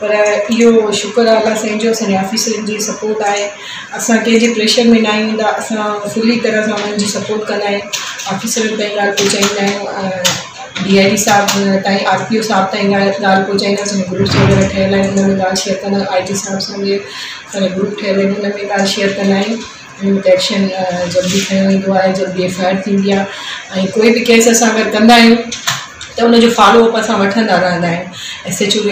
پر اهو شڪر آ الله سائين جو اسانجي آفيسرن جي سپورٽ آهي اسان ڪنهن جي پريشر ۾ ناهيون ايندا اسان فلي طرح سان انهن جي سپورٽ ڪندا آهيون آفيسرن تائين ڳالهه پهچائيندا آهيون ڊي آء جي صاحب تائين آر ٽي او صاحب تائين ڳالهه پهچائيندا اسانجو گروپ وغيره ٺهيل آهن انهن ۾ ڳالهه شيئر ڪندا آهيون آء جي صاحب سان به اسانجو گروپ ٺهيل آهن انهن ۾ ڳالهه شيئر ڪندا آهيون انهن تي ايڪشن جلدي کنيو ويندو آهي جلدي ايف آء آر ٿيندي آهي ۽ ڪوئي به ڪيس اسان اگر ڪندا آهيون ته ان جو فالو اپ اسان وٺندا رهندا آهيون ايس ايچ او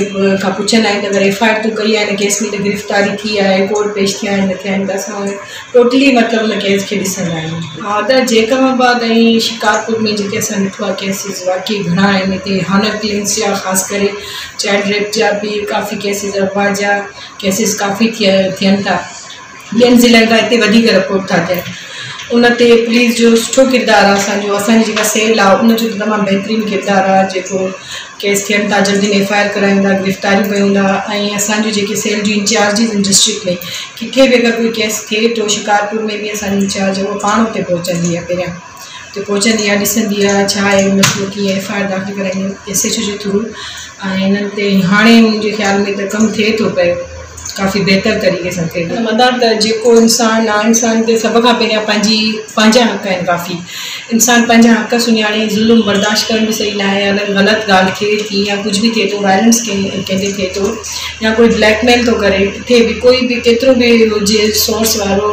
کان پڇندا آهيون ته اگر ايف آء آر تون ڪئي آهي ان ڪيس ۾ ته گرفتاري ٿي آهي ڪورٽ پيش ٿيا آهن نه ٿيا آهن ته اسان ان ٽوٽلي مطلب ان ڪيس کي ڏسندا آهيون ها ته جيڪب آباد ۽ شڪارپور ۾ جيڪي اسان ڏٺو آهي ڪيسز واقعي گهڻا آهن هتي هانر ڪلنس جا خاص ڪري چائلڊ ريپ جا به ڪافي ڪيسز اغوا جا ڪيسز ڪافي ٿيا ٿين ٿا ٻين ضلعن کان هتي وڌيڪ رپورٽ ٿا ٿين ان تي پوليس جو سٺو ڪردار آهي اسان جو اسان جي جيڪا سيل آهي ان جو تمام بهترين ڪردار آهي جيڪو ڪيس ٿين ٿا جلدي ايف آء آر ڪرايون ٿا گرفتاريون ڪيون ٿا ۽ اسان جون جيڪي سيل جون انچارجز آهن ڊسٽرڪٽ ۾ ڪٿي به اگر ڪوئي ڪيس ٿئي ٿو شڪارپور ۾ به اسان جي انچارج هو پاڻ اتي پهچندي آهي پهريان ته پهچندي آهي ڏسندي آهي ڇا آهي مسئلو ڪيئن ايف آء آر داخل ڪرائيندي ايس ايڇ او جي ٿرو ۽ هنن تي هاڻي منهنجي خيال ۾ ته ڪم ٿئي ٿو پيو ڪافي بهتر طريقي سان ٿئي ٿو مدار ته جيڪو انسان نا انسان تي سڀ کان پهريان پنهنجي پنهنجا حق آهن ڪافي انسان پنهنجا حق سڃاڻي ظلم برداشت ڪرڻ به صحيح ناهي اگر غلط ڳالهه ٿئي ٿي يا ڪجهه به ٿئي ٿو وائلنس ڪنهن ڪنهن تي ٿئي ٿو يا ڪوئي بليڪ ميل ٿو ڪري ڪٿي به ڪوئي به ڪيترو به هجي سورس وارو